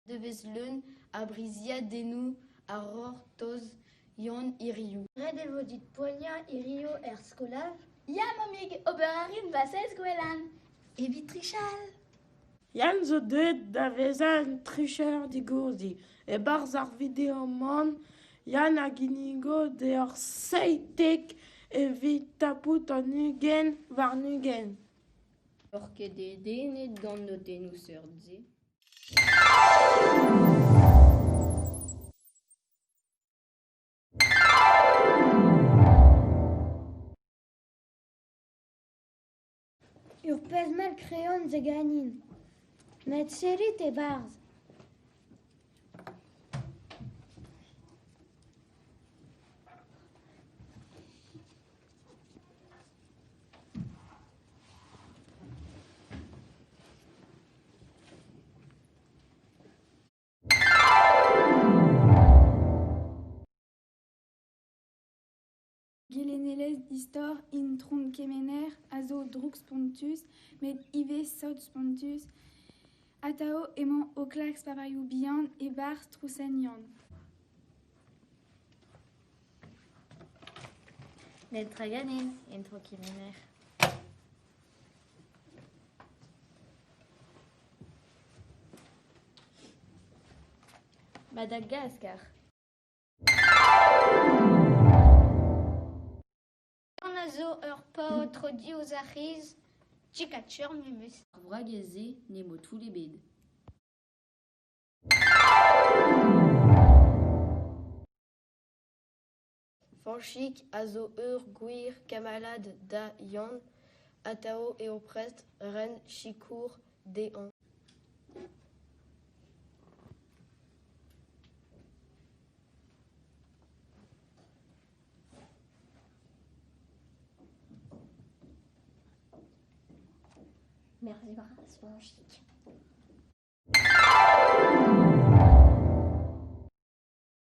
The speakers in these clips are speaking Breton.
Devezh leun a briziadennoù a c'hortoz Yann hiriv. Ret e vo dit poaniañ hiriv er skolaj? Ya, mammig, ober a rin va sez gwelan. Evit trichal? Yann zo deuet da vezañ un tricher digordi. E-barzh ar video-man, Yann a ginnigo deoc'h seitek evit tapout an ugent warn-ugent. N'oc'h ket dedennet gant notennoù seurt-se? Ur pezh mell kreoñ zo ganin, met serrit e-barzh. Gelennelezh distor Intron Kemener a zo drouk spontus met ivez sot spontus. Atav emañ o klask savailhoù bihan e-barzh trousenion. Netra ganin, intro kemener. Ma da gas kar. On a zo ur paotr diouzh ar c'hiz. Tchikatur memes. Ar wragez-se n'emañ toull ebet. Fañchig a zo ur gwir kamalad da Yann, atav eo prest ren sikour dezhañ. Merveille grâce, Fañchig.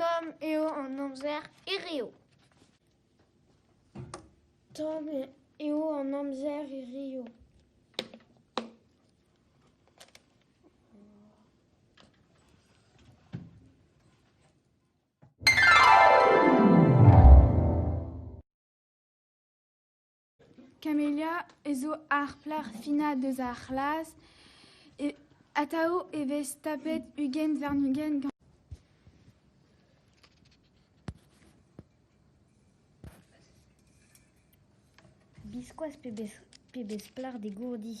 Tomm eo an amzer hiziv. Tomm eo an amzer hiziv. Camellia zo ar plac'h finañ deus ar c'hlas, atav e vez tapet ugent warn-ugent gantañ. Biskoazh pebezh plac'h degourdi !